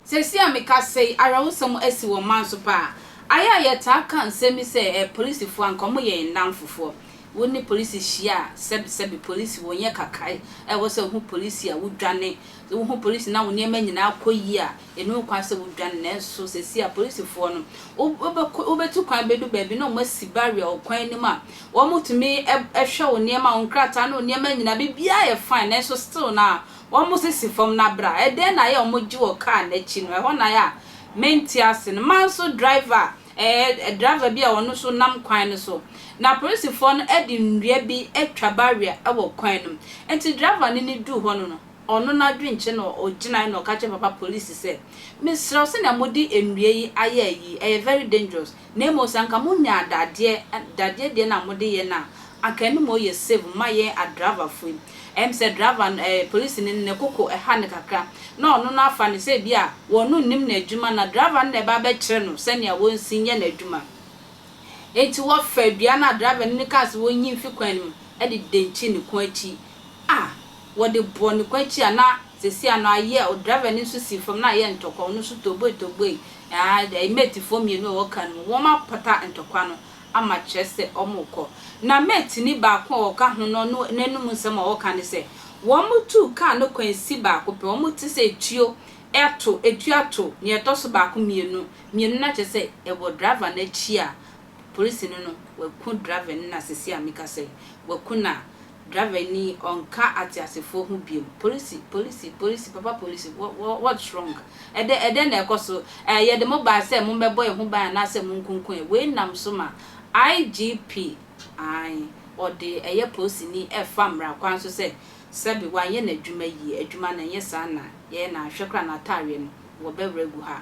Seesei a mekasa yi, awerɛhosɛm asi wɔ ɔman so paa. Ayɛ a yɛtaa ka nsɛm bi sɛ, eh, polisifo a, anka wɔyɛ yɛn nnamfofoɔ. Wo ne polisi hyia a, sɛbesɛbe, polisi, wɔnyɛ kakaa. Ɛwɔ sɛ wohu polisi a, wodwane. Sɛ wohu polisi na wo nneɛma nyinaa kɔ yie a, Ɛnni ho kwan sɛ wodwane, nanso seesei apolisifoɔ no, wobɛkɔ, wobɛtu kwan bɛdu baabi na wɔasi barrier wɔ kwan no mu a, wɔtumi hwɛ wo nneɛma, wo nkrataa ne wo nneɛma nyinaa, biribiara yɛ fine, nanso still no a, wɔsisi fam no abrɛ a, ɛdɛn na ayɛ a wɔgye wɔ kaa no akyi no? Ɛhɔ na ayɛ a mente ase no. Mmaa nso driver a, ɛɛ, driver bi a ɔno nso nam kwan no so, na apolisifoɔ no de nnua bi atwa barrier wɔ kwan no mu, enti driver no ne duu hɔ no no, Ɔno n'adwenkyɛ na ɔgyinae na ɔka kyerɛɛ papa polisi sɛ, Mesrɛ wo, sɛnea mode nnua yi ayɛ ayi yi, ɛyɛ very dangerous, na mmom sɛ anka monyaa dadeɛ, dadeɛ deɛ no a mode yɛ no a, anka ɛno mmom yɛ safe ma yɛn adraivafoɔ yi. Ɛyɛ me sɛ driver no, ɛɛ, polisini no, ne koko ha no kakra, na ɔno no afa no sɛ ebia wɔno nnim n'adwuma na driver no na ɛreba abɛkyerɛ no sɛnea wɔnsi nyɛ n'adwuma. Enti wɔfaa dua no a driver no kaa sɛ wɔnyi mfi kwan no mu de dɛnkyi ne kɔn akyi. Ah! Wɔde bɔɔ ne kwati a na sɛsi ano ayɛ o, driver no nso sii fam na ayɛ ntɔkwa, ɔno nso toboe toboe, aah, mate foɔ mmienu a ɛwɔ car no mu, wɔn apata ntɔkwa no ama kyerɛ sɛ wɔn rekɔ. Na mate ni baako a ɔka ho no no n'anum nsɛm a ɔreka ne sɛ, wɔn tuu car no kwan si baako pɛ, wɔn te sɛ etuo ɛto, etuo ato nea ɛtɔ so baako mmienu, mmienu na kyerɛ sɛ ɛwɔ driver no akyi a, polisini no waku driver no na sɛsi a mekasa yi, waku no a Driver ni ɔnka ateasefoɔ ho biom Polisi polisi polisi papa polisi what's wrong ɛdɛ ɛdɛn na ɛkɔ so ɛɛ yɛde mo baa sɛ mommɛbɔ yɛn ho ban anaasɛ monkunku yɛn wei nam so ma IGP ae ɔde ɛyɛ polisini ɛfa mmara kwan so sɛ sɛbe wanyɛ n'adwuma yie adwuma no ɛnyɛ saa na yɛyɛ na anhwɛ koraa n'ataareɛ no wɔbɛwerɛ agu ha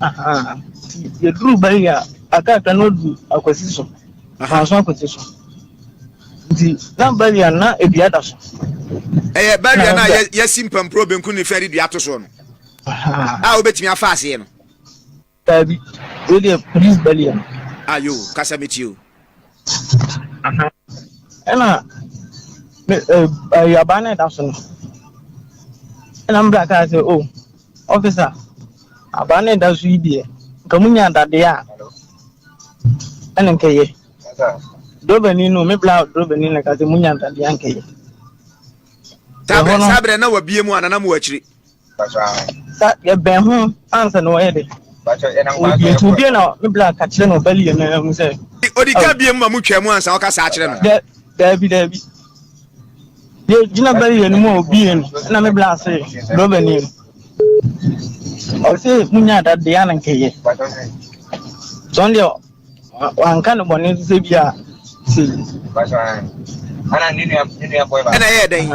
Aha, nti yɛduru ba yi a, akaaka no adu akwasi so, manso akwasi so. Nti na barrier no, na dua da so. Ɛyɛ barrier no a yɛasi mpampuro benkum ne fa de dua to soɔ no a wobɛtumi afa aseɛ no. Daabi, wei deɛ police barrier no. Ayo, kasa metie o. Aha. Ɛna me awuraba no ɛda so no. Ɛna me bra kaa sɛ o ɔfisa abaa no ɛda so yi deɛ nka mu nya dadeɛ a ɛna nkɛyɛ. Drobani no me bra drobani no ka sɛ mu nya dadeɛ a nkɛyɛ. Saa berɛ na wabie mu ananam wɔ akyiri. Sa yɛbɛn ho ansa na wɔyɛ dɛ. Obi nti obi na me bla ka kyerɛ no bali yɛ na mu sɛ. Odi ka bie mu ma mu twɛ mu ansa ɔka saa kyerɛ no. Dɛ dɛbi dɛbi. Yɛ gyina bali yɛ no mu obi yɛ no na me bla se do bɛ ni. Ɔse munya da de ya na nkɛyɛ. Sɔn deɛ Wanka ne bɔne nso sɛ bia se. Ana ne nua ne nua boy ba. Ɛna ɛyɛ dɛn?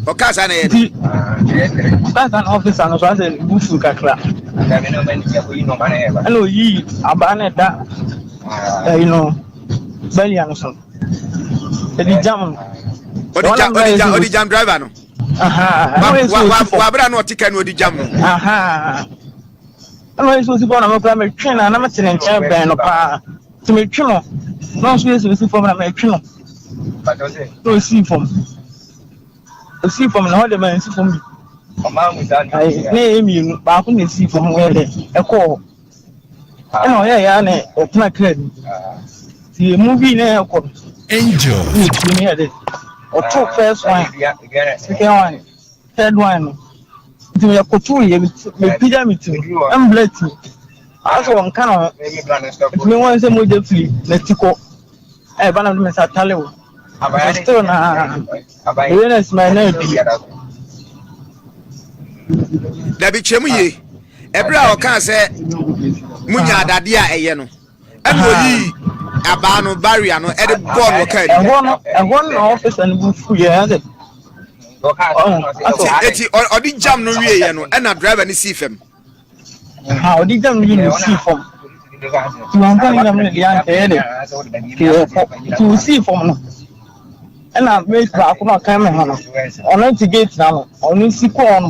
Ɔka saa na ɛyɛ dɛn? Ɔka saa na ɔfisa no so asɛ ne bu fu kakra. Ɛna oyi abaa na ɛda ɛyi no bɛlia no so. Ɛdi jam no. Ɔdi jam ɔdi jam ɔdi jam driver no. Wabra na ɔte kɛ na ɔdi jam no. Ɛna ɔyɛ sɛ osi fam na me koraa metwe no a na mete ne nkyɛn bɛn no paa nti metwe no na ɔnso yɛ sɛ osi fam na metwe no na osii fam osii fam na hɔ de ma nsi fam bi na ɛyɛ mmienu baako na esii fam yɛ dɛ ɛkɔɔ hɔ ɛna ɔyɛ ya na ɔtena kaa bi ti emu bi na ɛkɔ no Angel. ɛna etie no yɛ dɛ ɔtoo first one second one. Third one no, nti meyɛ koto yɛ mepagya me ti mbla ti asɛ wɔnka ne ho nti mehu sɛ mogya firi n'ati kɔ ɛba na mede me nsa tale wo still na ɛyɛ na sima na ɛdi dabi kyerɛ mu yie ɛberɛ a ɔkaa sɛ munya adadeɛ a ɛyɛ no ɛna oyii abaa no barrier no ɛde bɔɔ no kaa ni. ɛhɔ no ɛhɔ no na ɔfisa no bu fu yɛ ɛsɛ. eti ɔde jam no wie yɛ no ɛna driver no sii fam. ha ɔde jam no wie no sii fam ti wɔn nfa jam no deɛ anka yɛ dɛ ti wɔ fɔ ti wɔ sii fam no ɛna mate baako na ɔka mi ho no ɔno ti gate na no ɔno si kɔɔ no.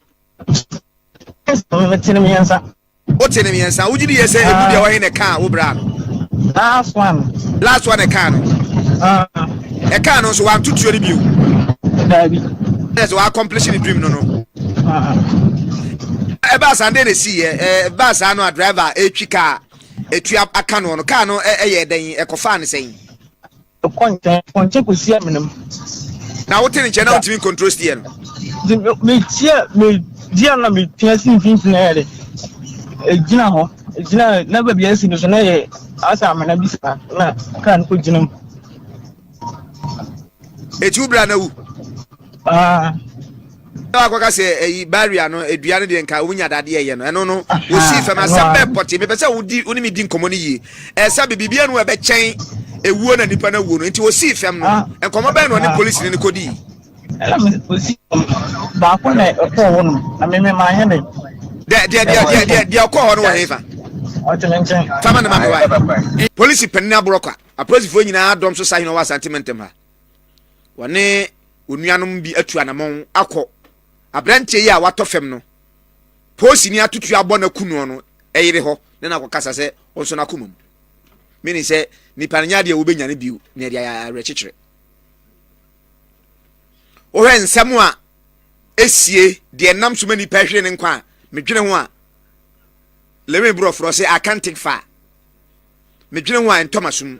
Mete no mmiɛnsa. Wote no mmiɛnsa. Wogye di yɛ sɛ emu deɛ wɔhe na ɛkaa wo bra no? Last one. Last one ɛkaa no. Ɛkaa no nso wanto tuo no bio. Daabi. Ɛna sɛ wɔaccomplish ne dream no no. Ɛbaa saa ndɛ na esi yɛ ɛbaa saa no a driver etwi kaa etua aka no no kaa no ɛyɛ dɛn ɛkɔfaa ne sɛn. Mekɔ nkyɛn, mekɔ nkyɛn kɔsi amena mu. Na wote ne nkyɛn na wontumi nkontro steɛ no. Nti meteɛ medeɛ na meteɛ si mfimfini ayɛ de ɛgyina hɔ ɛgyina na baabi asi no so na yɛ asɛ amena bi saa na kaa no kɔgyina mu. Ɛti wo bra na wu. Ah. Ɛna wakɔka sɛ ɛyi barrier no adua no deɛ nka wɔn nya dadeɛ ɛyɛ no ɛno no wɔsi fam asɛm bɛɛ pɔte mepɛ sɛ wodi wɔn mi di nkɔmɔ no yie ɛsɛ bɛ biribi ɛnu ɛbɛkyɛn ewuo na nipa na wuo no nti wɔsi fam no ah. nkɔmɔ bɛɛ na ɔne polisi no ne kodi. ɛna mi wɔsi baako na ɛkɔɔ hɔ nom na mi mi maa yɛ ne. deɛ deɛ deɛ deɛ deɛ ɔkɔɔ hɔ no wɔ ne fa. ɔtɛmɛ nkyɛn. fama ne ma mi wa polisi panyin aborɔ kwa apolisifoɔ nyinaa dɔm so sa hin wɔ asante mɛntɛm ha. wɔne onuanom bi atu anamɔn akɔ aberanteɛ yi a watɔ fam no poosini atutu abɔ no aku noɔ no ɛyere hɔ ne no akɔkasa sɛ ɔnso no akoma mu mene sɛ nipa no nyɛ adeɛ wobɛnya no bio na ɛde awerɛkyekyerɛ wohwɛ nsɛm a ɛsie deɛ nam so ma nipa ahwere ne nkwa a medwene ho a lewe borɔforɔ sɛ akantek fa a medwene ho a ɛntɔma som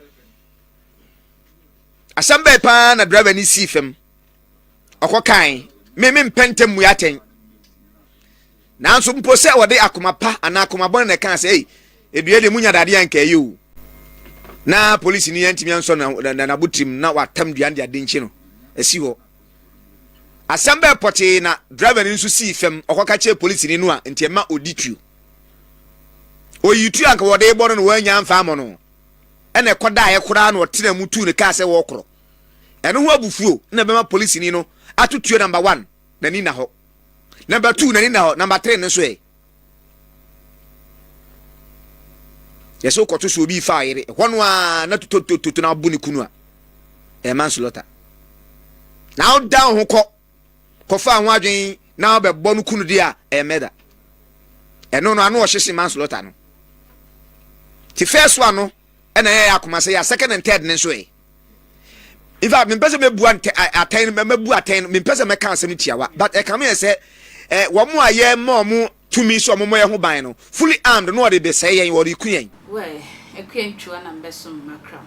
asɛm bɛɛ paa na driver ni sii fam ɔkɔ kan me me mpɛ ntɛm mu atɛn nanso mpo sɛ wɔde akoma pa anaa akoma bɔne na ɛka sɛ ei edua deɛ munya dadeɛ anka ɛyɛ o na polisi ni yɛntumi ansɔ n'abotirim na watam dua de ade nkyi no asi hɔ asɛm bɛɛ pɔtee na driver ni nso sii fam ɔkɔka kyerɛ polisi ni no a nti ɛma ɔdi tuo oyi tuo anka wɔde bɔ no no wɔanya mfa amɔ no ɛna ɛkɔdaeɛ koraa na ɔtenaa mu tuu ne kaa sɛ wɔrekorɔ. Ɛno ho abufuo na ɛbɛma polisini no ato tuo number one n'ani nna hɔ, number two n'ani nna hɔ, number three no nso ɛ? Yɛsɛ wokɔto so obi fa ɔyere, ɛhɔ no a na tototototo na abo ne kunu a, ɛyɛ manslaughter. Na wodan wo ho kɔ kɔfaa ho adwene na ɔbɛbɔ no kunu deɛ a, ɛyɛ murder. Ɛno no ano ɔhye sen manslaughter no. Ti first one no ɛna yɛyɛ akoma sɛ yɛ second and third no nso ɛ. In fact, mempɛ sɛ mɛbu atɛn no, mɛbu atɛn no, mempɛ sɛ mɛka asɛm tiawa, but ɛkame yɛ sɛ wɔn a yɛma wɔn Tumi sɛ wɔmmɔ yɛn ho ban no, fully armed, na wɔde besɛe yɛn, wɔreku yɛn. Wɛɛ, akua ntwiwa na mebɛsom m'akram.